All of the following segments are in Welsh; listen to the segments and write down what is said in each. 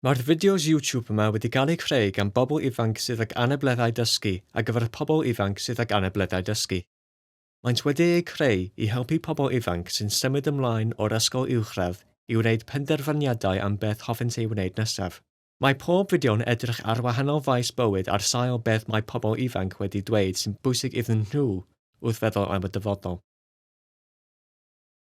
Mae'r fideos YouTube yma wedi gael eu creu gan bobl ifanc sydd ag anableddau dysgu ar gyfer y pobl ifanc sydd ag anableddau dysgu. Maent wedi eu creu i helpu pobl ifanc sy'n symud ymlaen o'r ysgol uwchradd i wneud penderfyniadau am beth hoffent ei wneud nesaf. Mae pob fideo'n edrych ar wahanol faes bywyd ar sail beth mae pobl ifanc wedi dweud sy'n bwysig iddyn nhw wrth feddwl am y dyfodol.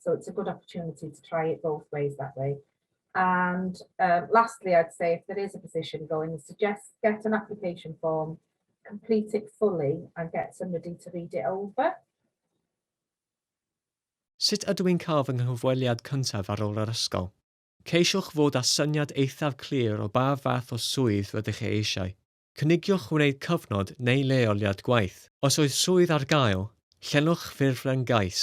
So it's a good opportunity to try it both ways that way. And uh, lastly, I'd say if there is a position going, suggest get an application form, complete it fully and get somebody to read it over. Sut ydw i'n cael fy nghyfweliad cyntaf ar ôl yr ysgol? Ceisiwch fod â syniad eithaf clir o ba fath o swydd rydych chi eisiau. Cynigiwch wneud cyfnod neu leoliad gwaith. Os oes swydd ar gael, llenwch ffurflen gais.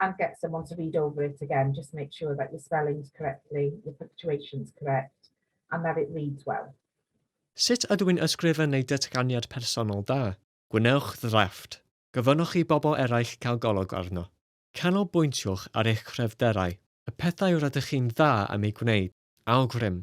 and get someone to read over it again, just make sure that your spelling's correctly, your punctuation's correct, and that it reads well. Sut ydw i'n ysgrifennu datganiad personol da? Gwnewch ddrafft. Gofynnwch i bobl eraill cael golwg arno. Canolbwyntiwch ar eich cryfderau, y pethau rydych chi'n dda am eu gwneud. Awgrym.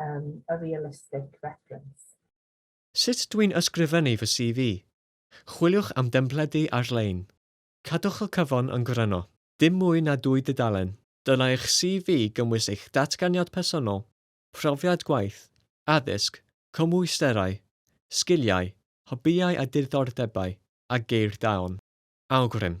um, a realistic reference. Sut dwi'n ysgrifennu fy CV? Chwiliwch am dempledu ar-lein. Cadwch y cyfan yn gryno. Dim mwy na dwy dudalen. Dylai'ch CV gymwys eich datganiad personol, profiad gwaith, addysg, cymwysterau, sgiliau, hobïau a diddordebau, a geir daeon. Awgrym.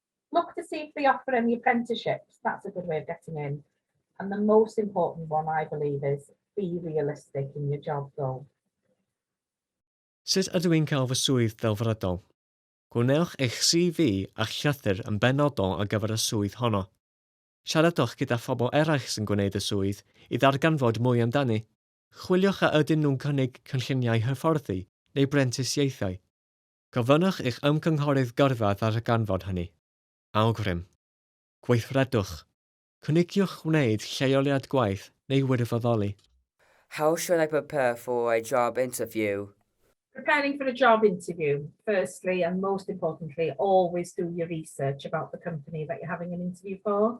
Look to see if they offer any apprenticeships. That's a good way of getting in. And the most important one, I believe, is be realistic in your job role. Sut ydw i'n cael fy swydd delfrydol? Gwnewch eich CV a'ch llythyr yn benodol ar gyfer y swydd honno. Siaradwch gyda phobl eraill sy'n gwneud y swydd i ddarganfod mwy amdani. Chwiliwch a ydyn nhw'n cynnig cynlluniau hyfforddi neu brentisiaethau. Gofynnwch i'ch ymgynghorydd gyrfa ddarganfod hynny. Awgrym. Gweithredwch. Cynigiwch wneud lleoliad gwaith neu wirfoddoli. How should I prepare for a job interview? Preparing for a job interview, firstly and most importantly, always do your research about the company that you're having an interview for.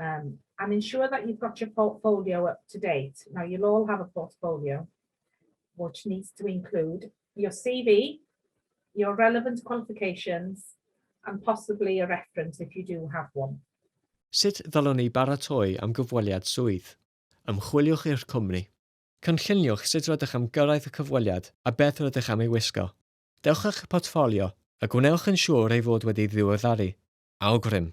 um, and ensure that you've got your portfolio up to date. Now, you'll all have a portfolio, which needs to include your CV, your relevant qualifications, and possibly a reference if you do have one. Sut ddylwn ni baratoi am gyfweliad swydd? Ymchwiliwch i'r cwmni. Cynlluniwch sut rydych am gyrraedd y cyfweliad a beth rydych am ei wisgo. Dewch â'ch portffolio, a gwnewch yn siŵr ei fod wedi ddiweddaru. Awgrym!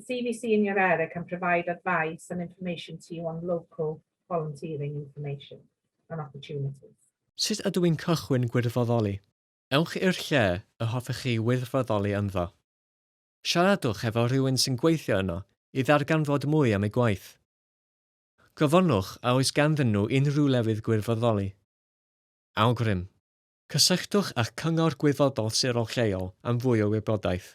The CVC in your area can provide advice and information to you on local volunteering information and opportunities. Sut ydw i'n cychwyn gwirfoddoli? Ewch i'r lle y hoffech chi wirfoddoli ynddo. Siaradwch efo rhywun sy'n gweithio yno i ddarganfod mwy am eu gwaith. Gofynnwch a oes ganddyn nhw unrhyw lefydd gwirfoddoli. Awgrym. Cysylltwch â'ch cyngor gwirfoddol sirol lleol am fwy o wybodaeth.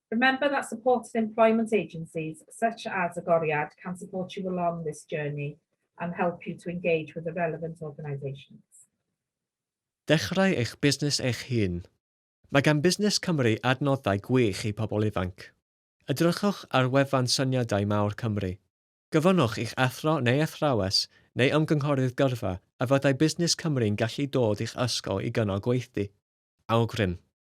Remember that supported employment agencies such as Agoriad can support you along this journey and help you to engage with the relevant organisations. Dechrau eich busnes eich hun. Mae gan Busnes Cymru adnoddau gwych i pobl ifanc. Edrychwch ar wefan Syniadau Mawr Cymru. Gofynnwch i'ch athro neu athrawes neu ymgynghorydd gyrfa a fyddai Busnes Cymru'n gallu dod i'ch ysgol i gynnal gweithdy. Awgrym.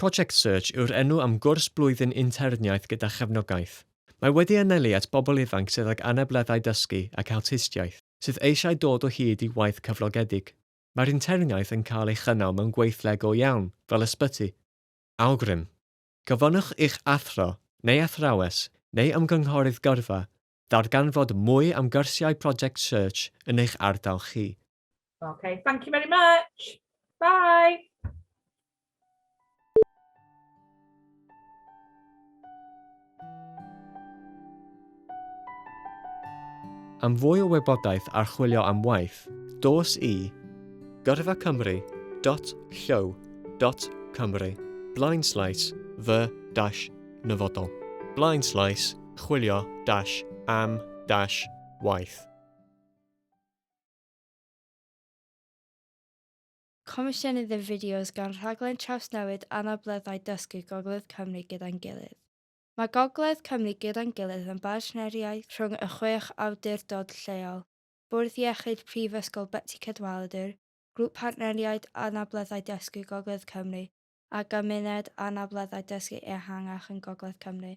Project Search yw'r enw am gwrs blwyddyn interniaeth gyda chefnogaeth. Mae wedi anelu at bobl ifanc sydd ag anableddau dysgu ac awtistiaeth, sydd eisiau dod o hyd i waith cyflogedig. Mae'r interniaeth yn cael ei chynnal mewn gweithle go iawn, fel ysbyty. Awgrym, Gofynnwch i'ch athro, neu athrawes, neu ymgynghorydd gyrfa, ddarganfod mwy am gyrsiau Project Search yn eich ardal chi. Okay, thank you very much. Bye. Am fwy o wybodaeth ar chwilio am waith, dos i gyrfacymru.llyw.cymru blaen slais fy dash nyfodol blaen slais chwilio dash am dash waith. Comisiynydd y fideos gan Rhaglen Trawsnewid Anableddau Dysgu Gogledd Cymru Gyda'n Gilydd. Mae Gogledd Cymru Gyda'n Gilydd yn bartneriaeth rhwng y chwech awdurdod lleol, Bwrdd Iechyd Prifysgol Betsi Cadwaladr, Grŵp Partneriaid Anableddau Dysgu Gogledd Cymru a Gymuned Anableddau Dysgu Ehangach yn Gogledd Cymru.